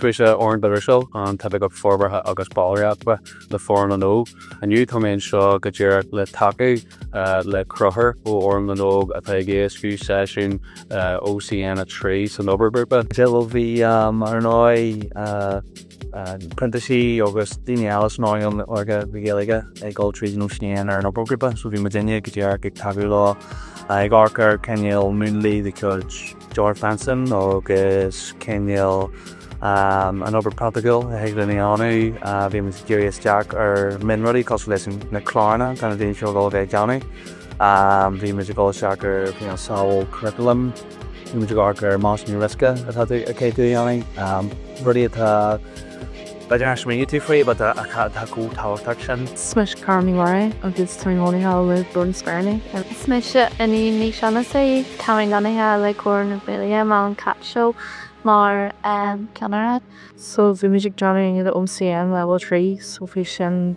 Is mise Oran de Ruiséal, an tOifigeach Forbartha agus Ballraíochta, le Fóram na nÓg. Inniu tá mé anseo go díreach le tacú le Conchúr ó Fhóram na nÓg atá ag éascú seisiún OCN3 san obair ghrúpa. Bhuel bhí, ar ndóigh. printísigh agus daoine eile san earnáil óige na Gaeilge ag dul tríd an OCN ar an obair ghrúpa, so bhí muidinne go díreach ag tacú leo ag amharc ar cineál múnlaí de chuid George Benson agus cineál an obair praiticiúil a thig linn a dhéanamh. Bhí muid ag díriú isteach ar mionrudaí cosúil leis na cláranna atá na daoine seo ag dul a bheith ag déanamh. Bhí muid ag dul isteach ar samhail curriculum. Bhí muid ag amharc ar measúnú riosca atá tú a cheadú a dhéanamh, rudaí atá b'fhéidir nach smaoinigh tú faoi but atá chomh tábhachtach sin. Is mise Cara Ní Mhuirí agus táim lonnaithe le Glór na Speiríní. Is mise Iníon Ní Sheanasaí, táim lonnaithe le Comhar na Gaeilge Mol an Cat Show mar cheannaire. So bhí muid ag déanamh an OCN Leibhéal 3 so bhí sin.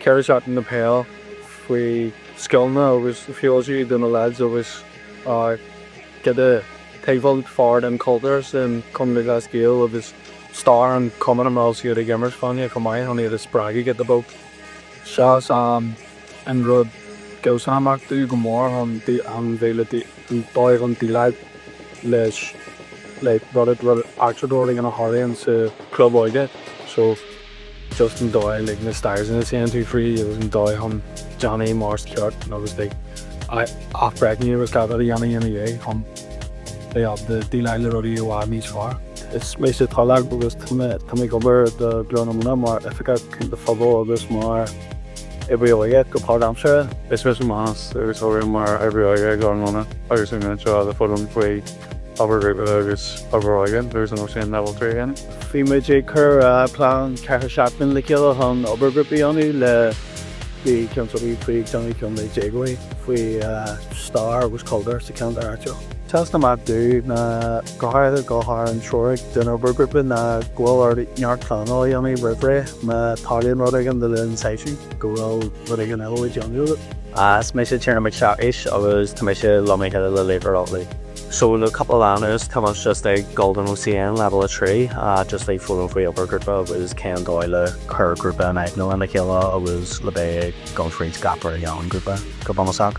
Ceithre seachtaine de peil faoi scileanna agus feoil siúd do na lads agus giota taobh alt fearr den chultúr sa Chumann Lúthchleas Gael agus stair an chumainn a mbeadh siad ag imirt fáinne chomh maith chun iad a spreagadh giota beag. Seo sam. an rud a sheas amach domh go mór chun an bhéile dóigh chun déileáil leis like rud a rud eachtra like a tharlaíonn sa chlub óige so just an dóigh like na steps ina dtéann tú fríd agus an dóigh chun déanamh mar is ceart agus like athbhreithniú agus gach rud a dhéanamh ina dhiaidh chun bheith ábalta déileáil le rudaí i bhfad níos fearr. Is mise Taidhleach agus tá mé ag obair do Ghlór na Móna mar Oifigeach Cúnta Phobail agus mar. oibrí óige go páirt-aimseartha. Is mise Manus agus oibrím mar oibrí óige ag Glór na Móna agus táim anseo le foghlaim faoi obair ghrúpa agus obair óige agus an OCN level trí a dhéanamh. Bhí muid ag cur plean ceithre seachtaine le chéile chun obair ghrúpa a dhéanamh le bhí ceann tugadh faoi déanamh ceann le déagóirí faoi stair agus cultúr sa ceantar áitiúil. Sheas amach dom go háirithe an tseoraigh den obair ghrúpa ná go bhfuil ort neart pleanála a dhéanamh roimh ré má tharlaíonn rud éigin le linn seisiún, go bhfuil rud éigin eile le déanamh agat. Is mise Tiernan Mac Siacais agus tá mise lonnaithe le Laochra Loch Lao. So le cúpla lá anuas tá muid just ag gabháil don OCN leibhéal a trí just ag foghlaim faoi obair ghrúpa agus cén dóigh le cur grúpa in aithne lena chéile agus le bheith ag dul fríd gach rud a dhéanann grúpa go bunúsach.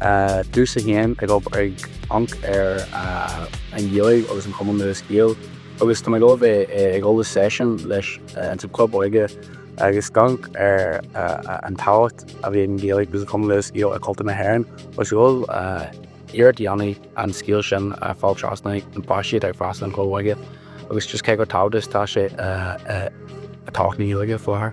dtús a haon, ag amharc ar an Ghaeilge agus an Chumann Lúthchleas Gael agus tá mé ag dul a bheith ag dul i seisiún leis insa chlub óige agus ag amharc ar an tábhacht a bhí ag an Ghaeilge agus an Chumann Lúthchleas Gael i gcultúr na hÉireann agus ag dul ag iarracht a dhéanamh an scéal sin a fháil trasna do na páistí atá ag freastal an chlub óige agus just cé chomh tábhachtach is atá sé i dtodhchaí na Gaeilge faoi láthair.